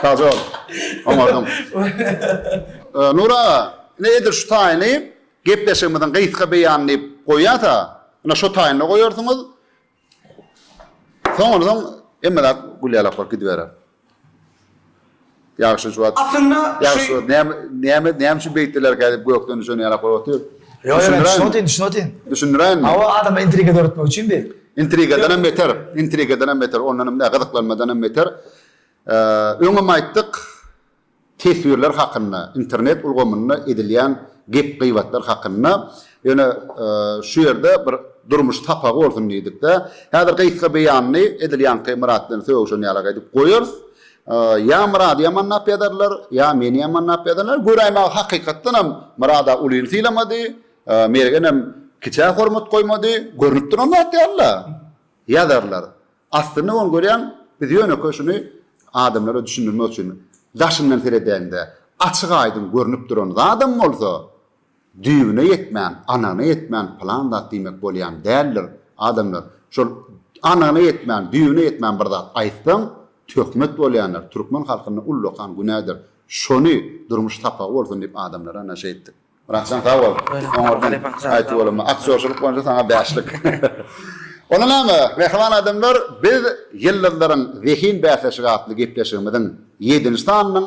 Kajol. Oňardyň. Nury aga, ine edil şu taýyny gepleşigimiziň gysga beýany diýip goýýasa, ine şo taýynda goýarsyňyz. Soňundan hemme zat gülýalaklar gidiberer. Ýagşy juwat. Aslynda şu Ýagşy juwat. Näme näme näme üçin beýtdilerkä diýip gökden düşen ýaly aklyma otyr. Ýok ýok düşünip otyryn düşünip otyryn. Düşündiräýinmi? Hawa adamda intriga döretmek üçin bi. Intrigadan hem beter. Intrigadan hem beter. Ondan hem däl gyzyklanmadan hem beter. Öňem aýtdyk teswirler hakynda internet ulgamynda edilýän gep gybatlar hakynda. Ýöne şu ýerde bir durmuş sapagy bolsun diýdikde, häzir gysga beýanyny edil ýaňky Myrat bilen sögüşen ýalak edip goýarys. Ýa Myrady ýamanlap ýazarlar, ýa meni ýamanlap ýazarlar. Göräýmaga hakykatdan hem Myrada ulyny sylamady, Mergenem kiçä hormat goýmady. Görnüp duran zat ýaly-la ýazarlar. Aslynda ony görýän biz ýönekeý şuny adamlara düşündirmek üçin daşyndan seredäýiň-de, açyk-aýdyň görnüp duran zadam bolsa, Düýbüne ýetmän, anygyna ýetmän pylan zat diýmek bolýan däldir. Adamlar, şol anygyna ýetmän, düýbüne ýetmän bir zat aýtsaň, töhmet bolýandyr. Türkmen halkynda ullakan günädir. Şony durmuş sapagy bolsun diýip adamlara naşa etdik. Myratjan sag bol. Oňardan aýtdy bolama. Aktýorçylyk boýunça saňa bäşlik. Onda näme, mähriban adamlar, biz Ýyldyzlaryň zehin bäsleşigi atly gepleşigimiziň ýedinji sanynyň